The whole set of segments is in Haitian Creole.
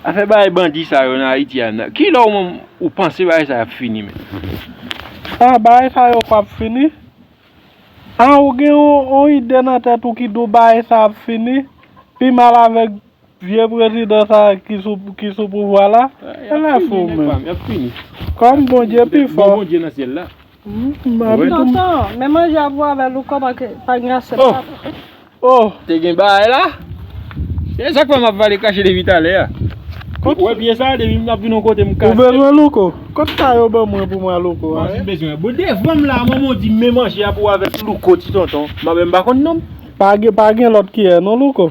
Afè bagay bandi sa yo nan ayiti a nan kilè ou menm ou panse bagay sa yo ap fini menm? A bagay sa yo pap fini? A ou gen yon ide nan tèt ou ki di w bagay sa ap fini? Pi mal avèk vye prezidan sa ki sou pouvwa la? Ala fou menm. Kòm Bondye pi fò. Tonton, men manje a pou Abel ou kòman ke pa gen asyèt la tonton. Oh, te gen bagay la? Se sak fè map vale kache depi talè a. Ou wè pye sa depi map vin yon kote m kase. Ou bezwen louko? Kot sa yo ban mwen pou mwen louko a? Mwen bezwen. Bon devanm la manman di men manje a pou avèk louko ti tonton. Mwen menm m pa konn nonm. Pa gen lòt kiyè non louko?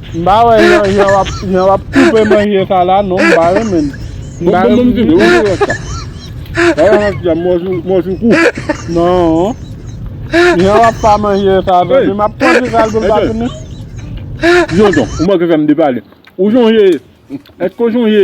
M pa wè jan w ap koupe manje sa la non, m pa renmen l. M pa renmen l ditou. Non, jan w ap pa manje sa la, m ap pran ti sa l pou l pa tounen. Tonton, ou manke fè m depale. Ou sonje, èske ou sonje?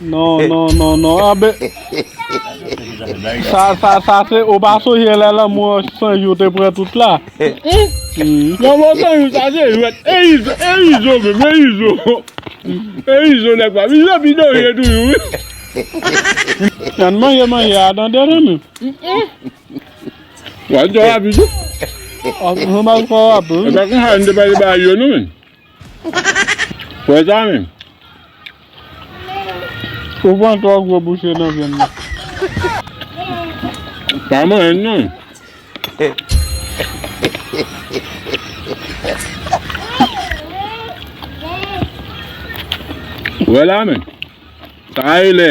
Non non non non anbe Sa sa sa se ou pa sonje lè lanmou an san jou te pran tout la Lanmou an san jou sa se jwèt E izo e izo menm e izo E izo nèg pam izo ap idore toujou wi Ann manje manje a tande zanmim Wap twò rapid wi Wap twò rapid wi Epa konsa nou te pale bagay yo non menn Frè Zanmi, ou pran twò gwo bouche nan vyann nan. Pa manyen l non. Wè la men, sa a rele.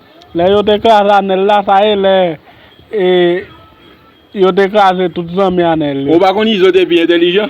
Lè yo te kraze anèl la sa e lè e yo te kraze tout zanmi anèl yo. Ou pa konn izo te pi entelijan.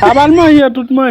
Pa bal manje tout manje.